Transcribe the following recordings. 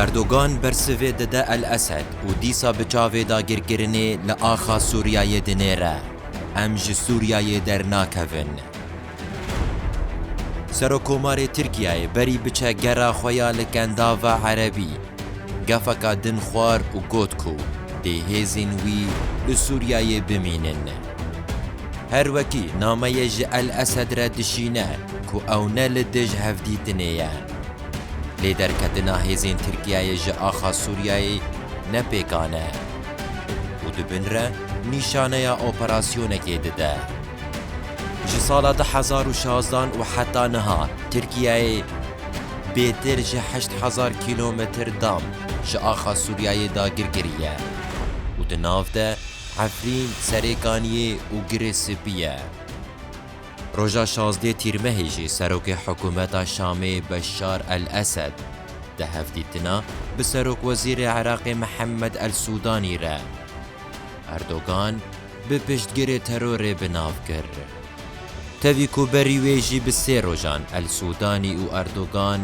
Erdogan bersivê dide El Esed û dîsa bi çavê dagirkirinê li axa Sûriyeyê dinêre, Em ji Sûriyeyê dernakevin. Serokkomarê Tirkiyeyê berî biçe gera xwe ya li Kendava Erebî, gefeka din xwar û got ku dê hêzên wî li Sûriyeyê bimînin. Her wekî nameyê ji El Esed re dişîne ku ew ne li dij hevdîtinê ye. Lê derketina hêzên Tirkiyeyê ji axa Sûriyeyê ne pêkan e û di bin re nîşaneya operasyonekê dide. Ji sala du hezar û şazdan û heta niha Tirkiyeyê bêtir ji heşt hezar kîlometr dam ji axa Sûriyeyê dagir kiriye û di nav de Efrîn, Serêkaniyê û Girê Spî ye. Roja şazdê Tîrmehê jî Serokê Hikûmeta Şamê Beşar El-Esed di hevdîtina bi Serokwezîrê Iraqê Mihemed El-Sûdanî re Erdogan bi piştgirê terorê bi nav kir. Tevî ku berî wê jî bi sê rojan El-Sûdanî û Erdogan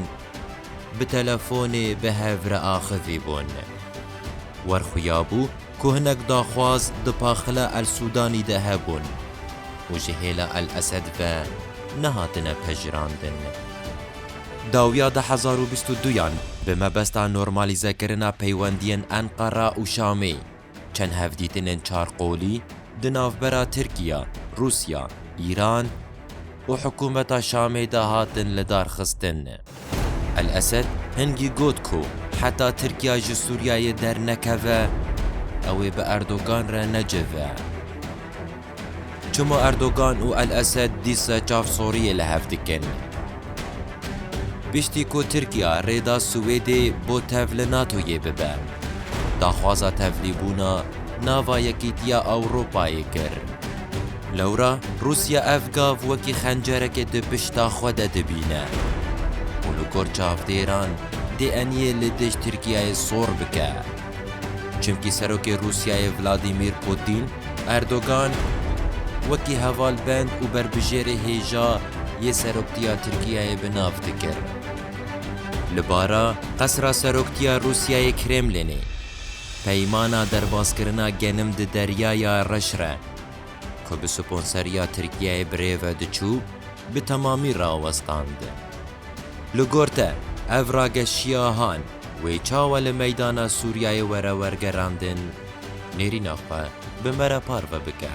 bi telefonê bi hev re axivî bûn. Werxuyabû ku hinek daxwaz di Paxila El Sudanî de hebûn û ji hêla El Esed ve nehatine pejirandin. Dawiya du hezar û bîst û du yan bi mebesta normalizekirina peywendiyên Enqera û Şamê, çend hevdîtinên çar qolî di navbera Tirkiye, Rûsya, Îran û hikûmeta Şamê de hatin lidarxistin. El-Esed hingî got ku heta Tirkiya ji Sûriyeyê dernekeve, ew ê bi Erdogan re necive. Çima Erdogan û El-Esed dîsa çav soriyê li hev dikin? Piştî ku Tirkiya rê da Swêdê bo tev li NATO'yê bibe, daxwaza tevlîbûna nava Yekîtiya Ewropayê kir. Lewra Rûsya ev gav wekî xencerekê di pişta xwe de dibîne û li gor çavdêran dê eniyê li dij Tirkiyeyê sor bike. Çimkî Serokê Rûsyayê Vladîmîr Pûtîn, Erdogan, wekî hevalbend û berbijêrê hêja yê seroktiya Tirkiyeyê bi nav dikir. Li bara qesra seroktiya Rûsyayê Kremlînê, peymana derbaskirina genim di Deryaya Reş re, ku bi sponseriya Tirkiyeyê bi rê ve diçû, bi temamî rawestand. Li gor te, ev rageşiya han wê çawa li meydana Sûriyeyê were wergerandin, nêrîna xwe bi me re parve bike.